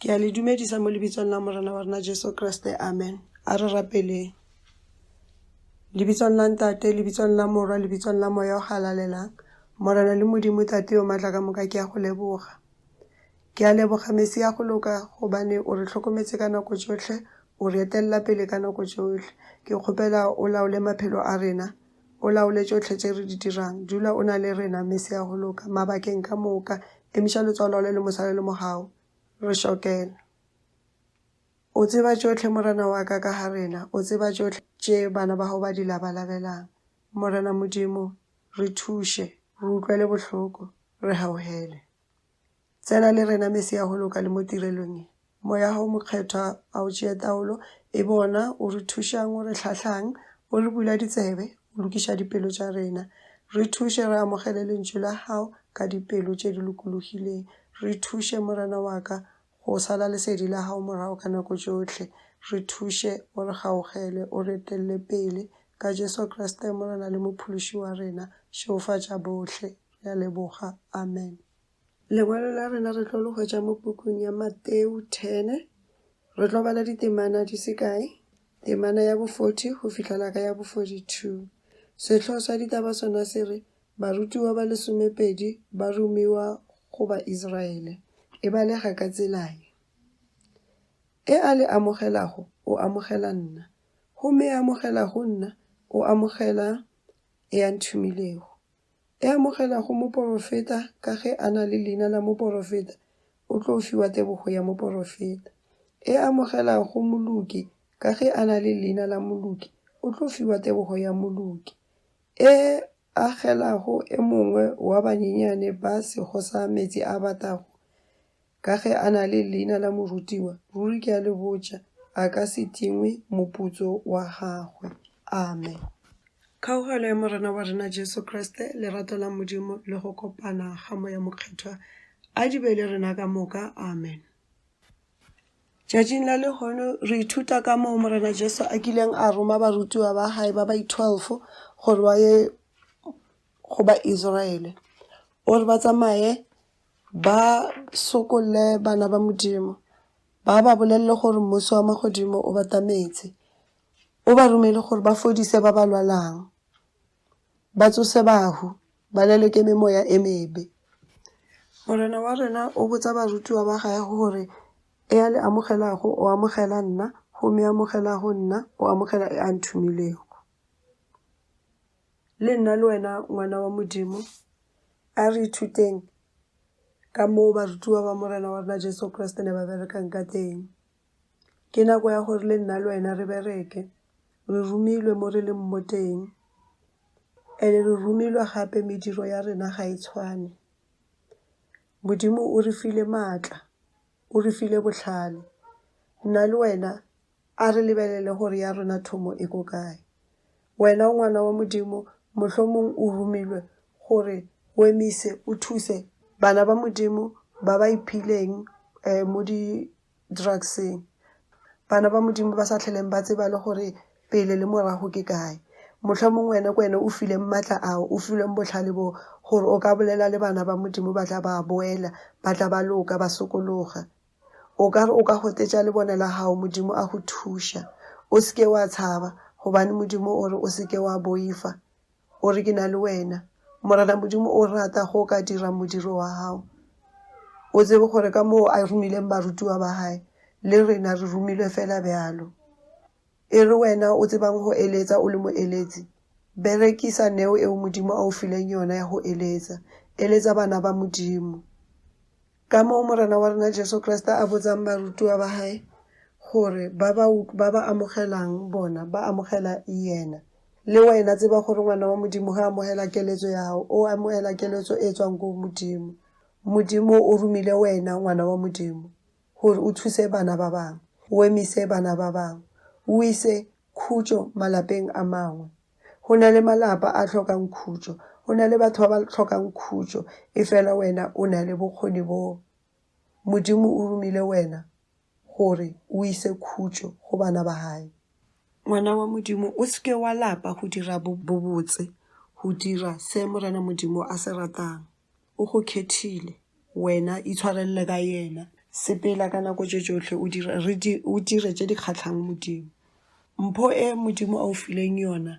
Ke a le dumedisa mo lebitsong la Morena wa rena Jesu Kriste. Amen. A re rapeleng. Lebitsong la Ntate, lebitsong la Morwa, lebitsong la Moya o Galalelang. Morena le Modimo Tate yo matla ka moka ke a go leboga. Ke a leboga Mesi ya go loka gobane o re tlhokometse ka nako tsotlhe, o re etelela pele ka nako tsotlhe. Ke kgopela o laole maphelo a rena. O laole tšohle tše re di dirang. Dula o na le rena, Mese ya go loka, mabakeng ka moka. Emiša lotso o laole le mosala le mogau. Re šokela. O tseba tšohle, Morena wa ka, ka ga rena. O tseba tšohle tše bana ba gago ba di labalabelang. Morena Modimo, re thuše, re utlwele bohloko, re gaugele. Tsena le rena mese ya go loka le mo tirelong ye. Moya wa Gago Mokgethwa a o tšee taolo, e be ona o re thušang, o re hlahlang, o re bula ditsebe, o lokiša dipelo tša rena. Re thuše re amogele Lentšu la Gago ka dipelo tše di lokologileng. Re thuše, Morena wa ka, Go sala lesedi la gago morago ka nako tšohle. Re thuše, o re gaugele, o re etelele pele. Ka Jesu Kriste Morena le Mophološi wa rena, šegofatša bohle. Re a leboga. Amen. Lengwalo la rena re tlo le hwetša mo pukung ya Mateu 10. Re tlo bala ditemana di se kae, temana ya bo 40 go fihlela ka ya bo 42. Sehloho sa ditaba sona se re, Barutiwa ba lesomepedi ba romiwa go Baisraele e balega ka tsela ye, E a le amogelago, o amogela nna, gomme e amogelago nna, o amogela e a nthomilego. E amogelago moporofeta ka ge a na le leina la moporofeta o tlo fiwa tebogo ya moporofeta, e amogelago moloki ka ge a na le leina la moloki o tlo fiwa tebogo ya moloki, E agelago e mongwe wa banyenyane ba sego sa meetse a batago, ka ge a na le leina la morutiwa, ruri ke a le botša, a ka se tingwe moputso wa gagwe. Amen. Kgaogelo ya Morena wa rena Jesu Kriste, lerato la Modimo, le go kopana ga Moya Mokgethwa a di be le rena ka moka. Amen. Tšatšing la lehono re ithuta kamoo Morena Jesu a kileng a roma barutiwa ba hae ba baitwelfo gore ba ye go ba-Israele. O re ba tsamaye ba sokolle bana ba Modimo, ba ba bolelele gore mmuso wa magodimo o batametse. O ba romile gore ba fodise ba ba lwalang. Ba tsose bahu, ba lelwe ke memoya e mebe. Morena wa rena o botsa barutiwa ba gage gore, E a le amogelago, o amogela nna, gomme e amogelago nna, o amogela e a nthomilego. Le nna le wena, ngwana wa Modimo, a re ithuteng ka moo barutiwa ba Morena wa rena Jesu Kriste ne ba berekang ka teng. Ke nako ya gore le nna le wena re bereke. Re romilwe mo re leng mo teng and-e re romilwe gape mediro ya rena ga e tshwane. Modimo o re file maatla, o re file botlhale. Nna le wena a re lebelele gore ya rona thomo e ko kae. Wena o ngwana wa Modimo, mohlomong o romilwe gore o emise, o thuse bana ba Modimo ba ba iphileng mo di, drugseng. Bana ba Modimo ba sa hleleng ba tseba le gore pele le morago ke kae. Mohlomong wena ke wena o fileng matla ao, o filweng bohlale boo, gore o ka bolela le bana ba Modimo, ba tla ba boela, ba tla ba loka, ba sokologa. O ka re o ka gotetša lebone la gago, Modimo a go thuša. O se ke wa tshaba, gobane Modimo o re o se ke wa boifa. O re, Ke na le wena. Morena Modimo o rata ge o ka dira modiro wa gago. O tsebe gore ka moo a romileng barutiwa ba gae, le rena re romilwe fela bjalo. E re wena o tsebang go eletsa, o le moeletsi, berekisa neo eo Modimo a o fileng yona ya go eletsa. Eletsa bana ba Modimo. Kamoo Morena wa rena Jesu Kriste a botsang barutiwa ba Hae gore ba ba, ba ba amogelang bona ba amogela Yena. Le wena tseba gore ngwana wa Modimo ge a amogela keletso ya gago, o amogela keletso e tswang go Modimo. Modimo o romile wena, ngwana wa Modimo, gore o thuse bana ba bangwe, o emise bana ba bangwe, o ise khutšo malapeng a mangwe. Go na le malapa a hlokang khutšo. Go na le batho ba ba hlokang khutšo, efela wena o na le bokgoni boo. Modimo o romile wena gore o ise khutšo go bana ba Hae. Ngwana wa Modimo, o se ke wa lapa go dira bobotse, go dira se Morena Modimo a se ratang. O go khethile. Wena itshwarelele ka Yena. Sepela ka nako tše tšohle o dire, re di, o dire tše di kgahlang Modimo. Mpho e Modimo a o fileng yona,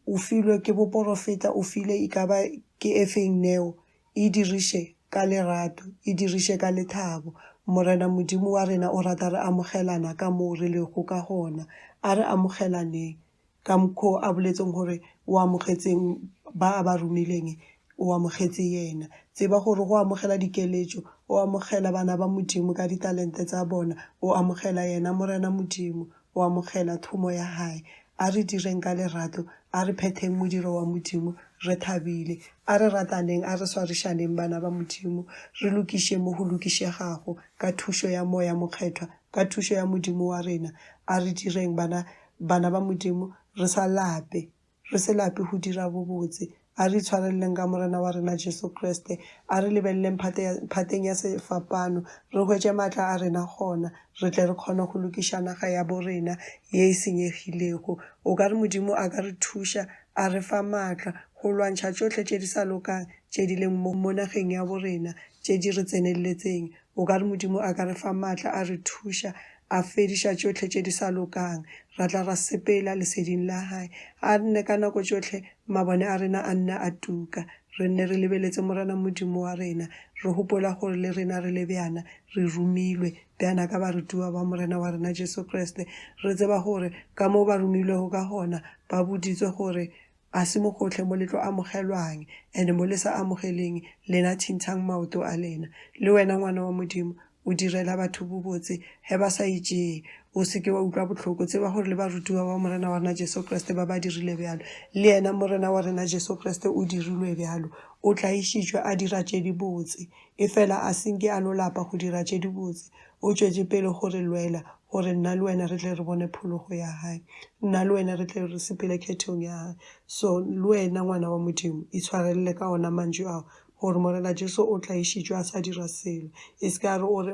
o filwe ke boporofeta, o file e ka ba ke e feng neo, e diriše ka lerato, e diriše ka lethabo. Morena Modimo wa rena o rata re amogelana ka moo re lego ka gona. A re amogelaneng. ka mokho a boletseng gore o amogetseng ba a ba romileng o amogetse yena tseba gore go amogela dikeletšo o amogela bana ba modimo ka ditalente tsa bona o amogela yena morena modimo o amogela thomo ya hae a re direng ka lerato a re phetheng modiro wa modimo re thabile a re rataneng a re swarišaneng bana ba modimo re lokiše mo go lokišegago ka thušo ya moya mokgethwa ka thušo ya modimo wa rena a re direng bana Bana ba Modimo, re sa lape. Re se lape go dira bobotse. A re itshwareleleng ka Morena wa rena Jesu Kriste. A re lebeleleng phate ya, phateng ya sefapano, re hwetše maatla a rena gona, re tle re kgone go lokiša naga yabo rena ye e senyegilego. O ka re Modimo a ka re thuša, a re fa maatla, go lwantšha tšohle tše di sa lokang tše di leng mo, mo nageng yabo rena, tše di re tseneletseng. O ka re Modimo a ka re fa maatla a re thuša, a fediša tšohle tše di sa lokang, ra tla ra sepela leseding la Hae. A nne ka nako tšohle mabone a rena a nne a tuka, re nne re lebeletse Morena Modimo wa rena, re gopola gore le rena re le bjana, re romilwe bjana ka barutiwa ba Morena wa rena Jesu Kriste. Re tseba gore ka moo ba romilwego ka gona, ba boditswe gore Ga se mogohle mo le tlo amogelwang, and mo le sa amogeleng, lena thintshang maoto a lena. Le wena ngwana wa Modimo, o direla batho bobotse ge ba sa e tšee. O se ke wa utlwa bohloko, tseba gore le barutiwa ba Morena wa rena Jesu Kriste ba ba dirile bjalo. Le yena Morena wa rena Jesu Kriste o dirilwe bjalo. O tlaišitšwe a dira tše dibotse, efela a se nke a no lapa go dira tše dibotse. O tšwetše pele go re lwela, gore nna le wena re tle re bone phologo ya Hae, nna le wena re tle re sepele khethong ya Hae. So, le wena, ngwana wa Modimo, itshwarelele ka ona mantšu ao, gore Morena Jesu o tlaišitšwe a sa dira selo. E se ka ya re o re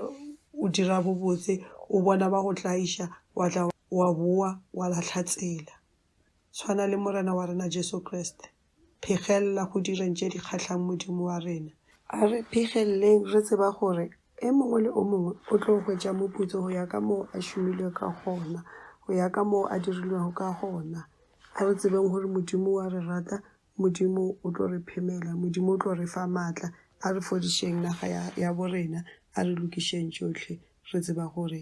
o dira bobotse, o bona ba go tlaiša, wa tla wa bowa wa lahla tsela. Swana le Morena wa rena Jesu Kriste, phegelela go direng tše di kgahlang Modimo wa rena. A re phegeleleng re tseba gore e mongwe le o mongwe o tlo hwetša moputso go ya ka moo a šomilwego ka gona, go ya ka moo a dirilwego ka gona. A re tsebeng gore Modimo o a re rata, Modimo o tlo re phemela, Modimo o tlo re fa matla. A re fodišeng naga ya borena, a re lokišeng tšohle, re tseba gore